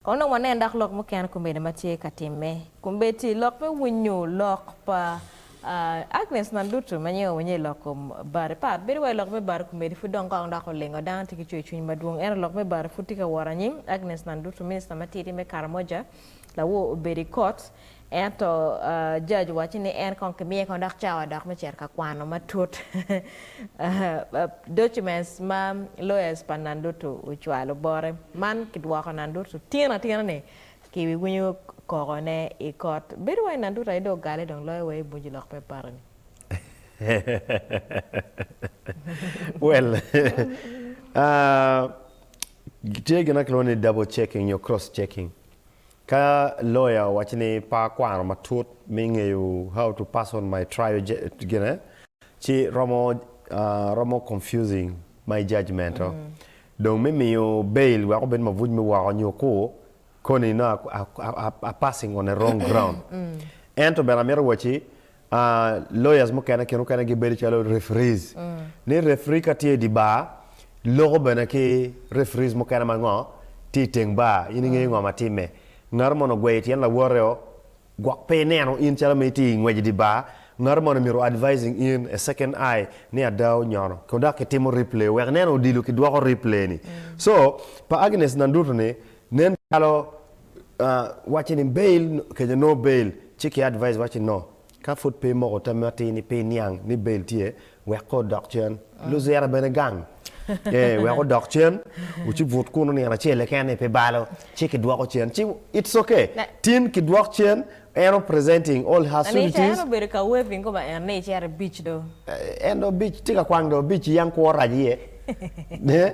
Kono dong wanen dok lok mukene kombeddi ma tye ka timme. Kombeddi lok me winyo lok pa Agnes man dutu ma nyinge owenye i lok kom bati pat. Bedo wai lok me bati kombeddi pud dong kong dok olingo. Dano tye ki cwer cwiny madwong ento lok me bati pud tye ka wot anyim. Agnes man dutu, minista matidi me Karamoja, lawor obedi kot. Ento George owaco ni en kong kimiye kong dok cawa dok me cito ka kwano matut documents ma lawyers pa Nandutu ocwalo bote. Man kidwoko Nandutu tino atina ni kiwinyo koko ne i kot. Bedo wai Nandutu aye dong ogale dong loyo wa i bunju lok me party ni. Well tye gin ma kilwongo ni double checking nyo cross checking. Ka loya owaco ni pe akwano matut me ngeyo how to person my trial gine ci romo romo confusing my judgement o. Dong me miyo bail wek obed mabuc me woko nyo ku koni nongo a a a passing on a wrong ground. Ento bene amito wacci Ah, lawyers mukene kin mukene gibedo calo referees. Ni referee ka tye i dye bar, loko bene ki referees mukene ma ngo tye i teng bar, in ingeyo ngo ma timme. Ngato mono ogweyo tyen lawote o, gwok pe ineno in calo ma itye i ngwec i dye bar, ngato mono myero o advising in a second eye ni ada onyono, ko dok kitimo replay wek ineno odilo kidwoko replay ni. So, pa Agnes Nandutu ni, nen calo wacce ni bail kece no bail ci ki advise wacce no ka pud pe imoko tam ma atir ni pe iniang ni bail tye wek ko odok cen luzira bene gang ee wek odok cen wuci but kunu nino acel keken ni pe balo ci ki dwoko cen ci it's ok tin ki dwok cen en o presenting all her suities lanica en obedo ka waving ko ma en ni icito i beach do en do beach tye ka kwang do beach yang kwo rac iye ne.